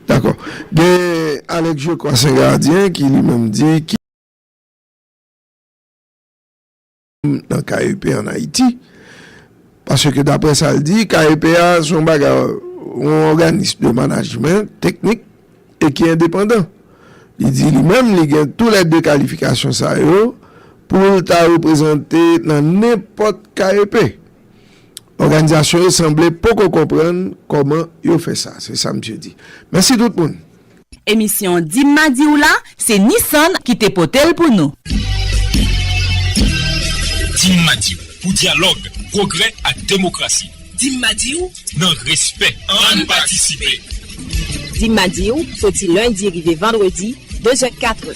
Dakò. Gen Alex Jocko Sen Gadyen ki li menm di ki. Nan KEP an Ayiti. Paske dapre sa l di, KEP a se yon bagay, yon òganis de manajmen teknik e ki endepandan. Li di li menm li gen tou lè 2 kalifikasyon sa yo pou l ta reprezante nan nenpòt KEP. Òganizasyon yo sanble poko konprann kòman yo fè sa, se sa misye di. Mèsi tout moun! Emisyon Dim ma di w la se Nissan ki te pote l pou nou. Dim ma di w, pou dyalòg, pwogrè ak demokrasi. Dim ma di w, nan respè, ann patisipe! Dim ma di w, soti lendi rive vandredi, dezè, katrè.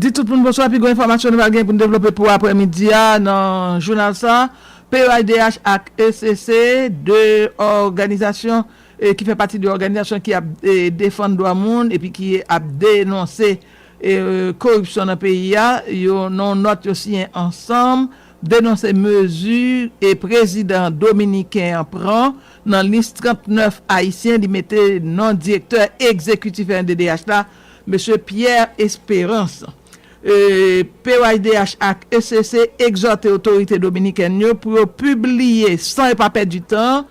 Di tout moun bonswa, pi gwo enfòmasyon nou pral gen pou n devlope pou aprè midi a nan jounal sa, PEAIDH ak ECC 2 òganizasyon ki fè pati de òganizasyon ki ap defann dwa moun epi ki ap denonse koripsyon nan peyi a, yo nan yon nòt yo siyen ansanm denonse mezi e prezidan dominiken an pran nan lis 39 ayisyen li mete non direktè egzekitif rnddh la, Mesye Pierre Esperance. POHDH ak ECC egzòte otorite dominikèn yo pou yo pibliye san yo pa pèdi tan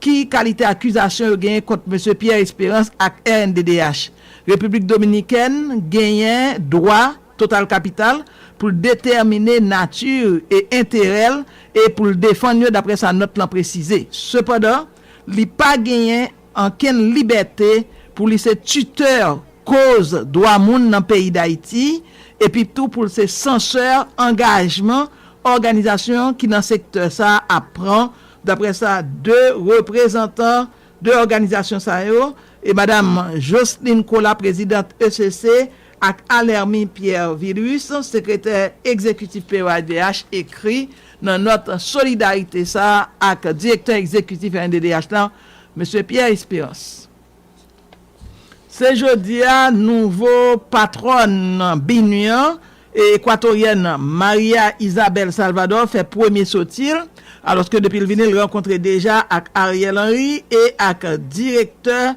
ki kalite akizasyon yo genyen kont Mesye Pierre Esperance ak rnddh. Repiblik Dominikèn genyen dwa. Total Kapital, pou l detèmine nati e enterè l e pou l defann yo daprè sa nòt lan presize. Sepandan, li pa genyen ankenn libète pou li se titè koz dwa moun nan peyi Dayiti epi tou pou l se sansè angajman òganizasyon ki nan sektè sa ap pran, daprè sa 2 reprezantan 2 òganizasyon sa yo e Madam Jocelyne Colas, prezidant ECC, Ak Alermy Pierre Vilus, sekretè egzekitif PEAIDH, ekri nan nòt solidarite sa ak direktè egzekitif rnddh lan, Mesye Pierre Espérance. Se jodi a nouvo patwòn BINUH an, ekwatoryèn Maria Isabel Salvador fè premye soti l, alòske depi l vini l rankontre deja ak Ariel Henry e ak direktè.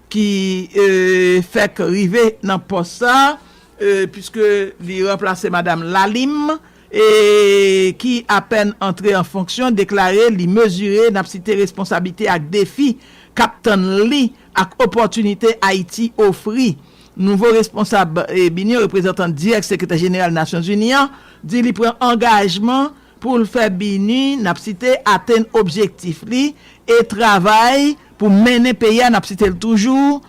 ki fèk rive nan pòs sa puiske li ranplase Madam Lalim e ki apèn antre an fonksyon deklare li mezire nap site responsablite ak defi kap tann li ak opòtinite Ayiti ofri. Nouvo responsab bin yo, reprezantan dirèk Sekretè Jeneral Nasyonzini an, di li pran angajman pou l fè BINUH nap site atenn objektif li e travay pou mennen peyi a, n ap site l toujou,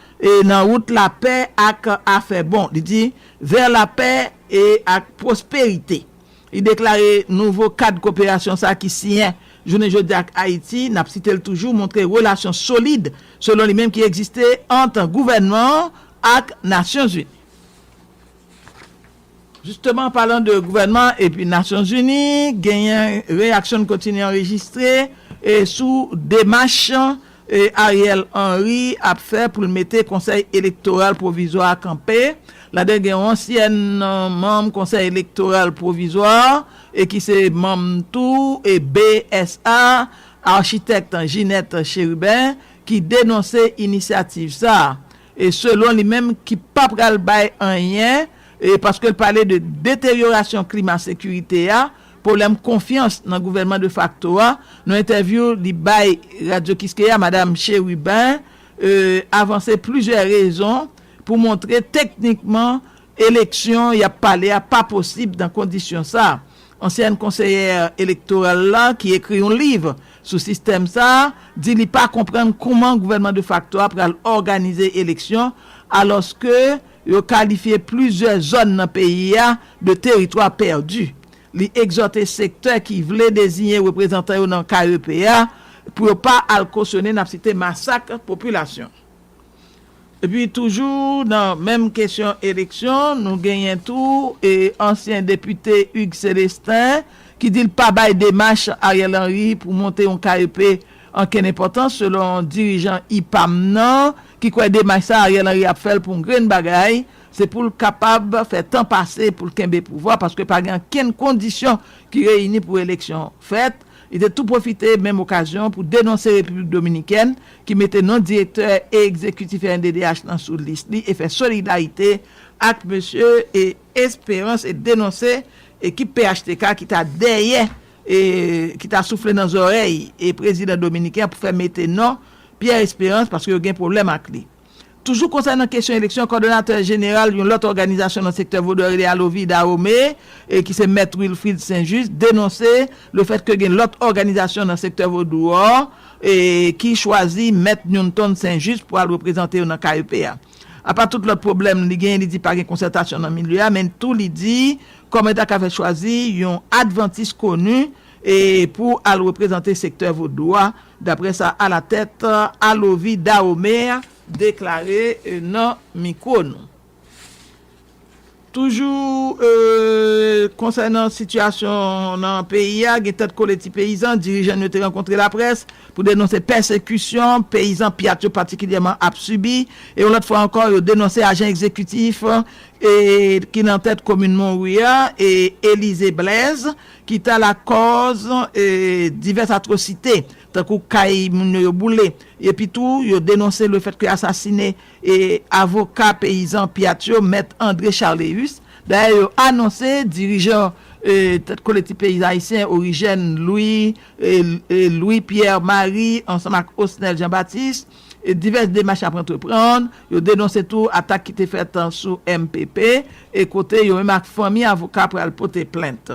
nan wout lapè ak afè bon. Li di, Vers la paix et la prospérité. Li deklare nouvo kad koperasyon sa ki siyen jounen jodi a ak Ayiti, n ap site l toujou, montre relasyon solid, selon li menm, ki egziste ant gouvènman an ak Nasyonzini. Jisteman anpalan de gouvènman epi Nasyonzini, genyen reyaksyon n kontinye anrejistre sou demach Ariel Henry ap fè pou l mete Konsèy Elektoral Pwovizwa a kanpe. Ladan l gen yon ansyèn manm Konsèy Elektoral Pwovizwa a ki se manm tou BSA, Architect Ginette Chérubin, ki denonse inisyativ sa a. e selon li menm ki pa pral bay anyen e paske l pale de deteryorasyon klima sekirite a, pwoblèm konfyans nan gouvènman defakto a, nan entèvyou li bay Radyo Kiskeya Madam Cherubin e avanse plizyè rezon pou montre teknikman Eleksyon y ap pale a pa posib nan kondisyon sa a. Ansyèn konseyè elektoral la ki ekri yon liv sou sistèm sa a di li pa konprann kouman gouvènman defakto a pral òganize eleksyon alòske yo kalifye plizyè zòn nan peyi a de teritwa pèdi. Li egzòte sektè ki vle deziyen reprezantan yo nan KEP a pou yo pa al kosyone n ap site masak popilasyon Epi toujou nan menm kesyon eleksyon, nou genyen tou ansyen depite Hugues Celestin ki di l pa bay demach Ariel Henry pou monte yon KEP ankenn enpòtans selon dirijan IPAM nan ki kwè demach sa Ariel Henry ap fè l pou yon grenn bagay se pou l kapab fè tan pase pou l kenbe pouvwa paske pa gen ankenn kondisyon ki reyini pou eleksyon fèt Li te tou pwofite menm okazyon an pou denonse Repiblik Dominikèn ki mete non direktè e egzekitif rnddh lan sou lis li e fè solidarite ak mesye Esperance e denonse ekip phtk ki ta dèyè e ki ta soufle nan zòrèy prezidan dominiken an pou fè mete non Pierre Esperance paske yo gen pwoblèm ak li. Toujou konsènan kesyon eleksyon, kòdonatè jeneral yon lòt òganizasyon nan sektè vodou a rele Alovi Dahome, ki se Mèt Wilfrid Saint Juste, denonse le fèt ke gen lòt òganizasyon nan sektè vodou a ki chwazi Mèt Newton Saint Juste pou al reprezante yo nan KEP a. Apa tout lòt pwoblèm li genyen, li di pa gen konsètasyon nan milye a, men tou li di kòman yo ta ka fè chwazi yon advantis koni pou al reprezante sektè vodou a Daprè sa alatèt Alovi Dahomey deklare nan mikwo nou. Toujou konsènan sitiyasyon nan peyi a, gen tèt kole ti peyizan, dirijan n yo te rankontre laprès pou denonse pèsekisyon peyizan Pyat yo patikilyèman ap sibi e yon lòt fwa ankò yo denonse ajan egzekitif ki nan tèt komin Monwi a, Élisée Blaise, ki ta lakòz divès atwosite, tankou kay moun yo yo boule, epi tou yo denonse le fèt ke asasine avoka peyizan Pyat yo, Mèt André Charléus, dayè yo anonse dirijan tèt Kolektif Peyizan Ayisyen Origène Louis, Louis Pierre Marie ansanm ak Osnel Jean Baptiste, e divès demach ap antreprann. Yo denonse tou atak ki te fèt sou mpp e kote yo menm ak fanmi avoka pral pote plent.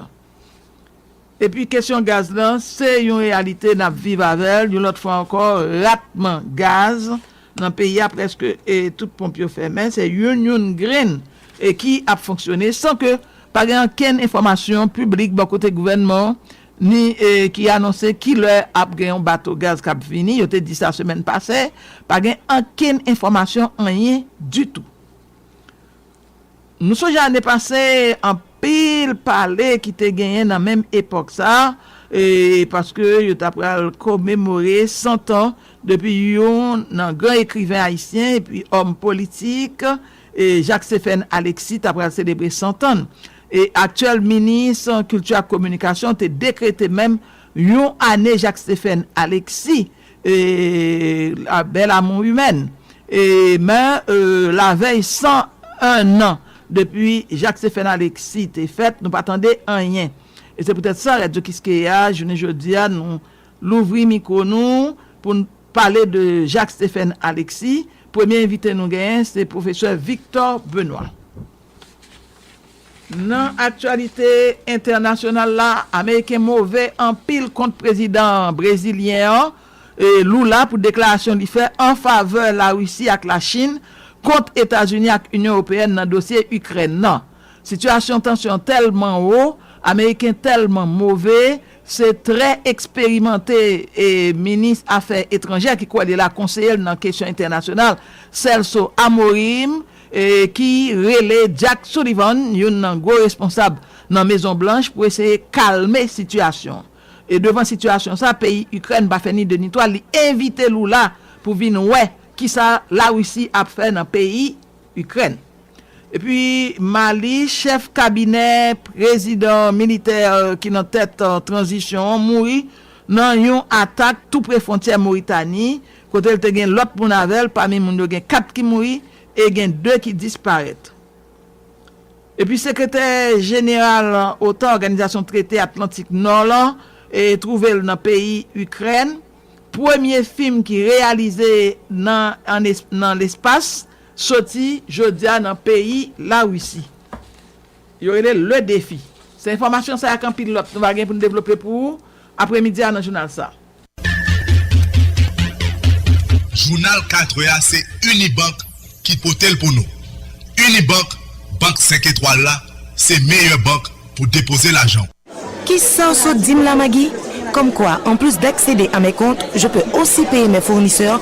Epi kesyon gaz lan, se yon reyalite n ap viv avè l yon lòt fwa ankò, ratman gaz nan peyi a prèske tout ponp yo fèmen, se youn youn grenn ki ap fonksyone san ke pa gen ankenn enfòmasyon piblik bò kote gouvènman ni ki anonse ki lè ap gen yon bato gaz k ap vini, yo te di sa semèn pase, pa gen ankenn enfòmasyon anyen ditou. Nou sonje ane pase anpil pale ki te genyen nan menm epòk sa, paske yo ta pral komemore 100 tan depi yon nan gran ekriven ayisyen epi òm politik Jacques Séphène Alexis ta pral selebre 100 tan n. E aktyèl minis kilti ak kominikasyon te dekrete menm yon ane Jacques Stéphane Alexis la belle à mon humaine e men lavèy 101 an depi Jacques Stéphane Alexis te fèt nou pa tande anyen e se poutèt sa Radyo Kiskeya jounen jodi a nou louvri mikwo nou pou n pale de Jacques Stéphane Alexis premye envite nou genyen se pwofesè Victor Benoît. Nan aktyalite entènasyonal la, ameriken move anpil kont prezidan brezilyen an, Lula pou deklarasyon li fè an favè Larisi ak Lachin kont Etazini ak Inyon Ewopeyèn nan dosye Ikrèn nan. Sitiyasyon tansyon tèlman wo, ameriken tèlman move, se trè eksperimante minis afè etranjè ki kwè li la konseye l nan kesyon entènasyonal, Celso Amorim, ki rele Jack Sullivan, youn nan gwo responsab nan Mezon Blanch pou eseye kalme sitiyasyon. E devan sitiyasyon sa peyi Ikrèn pa fè ni 2 ni 3, li envite Lula pou vin wè kisa Larisi ap fè nan peyi Ikrèn. Epi Mali, chèf kabinè prezidan militè ki nan tèt tranzisyon an mouri nan yon atak tou pre fwontyè Moritani, kote l te gen lòt moun avè l, pami moun yo gen 4 ki mouri e gen 2 ki disparèt. Epi sekretè jeneral otan, Òganizasyon Trete Atlantik Nò lan, twouve l nan peyi Ikrèn, premye fim ki reyalize nan lespas soti jodi a nan peyi Larisi. Yo rele l Le Defi. Se enfòmasyon sa ak anpil lòt nou va gen pou n devlope pou ou apremidi a nan jounal sa. Jounal 4 è a se Unibank ki pote l pou nou. Unibank, bank 5 etwal la, se meyè bank pou depoze lajan w. Kisa w sot dim la Maggie? Comme quoi en plus d'acceder à mes comptes, je peux aussi payer mes fournisseurs,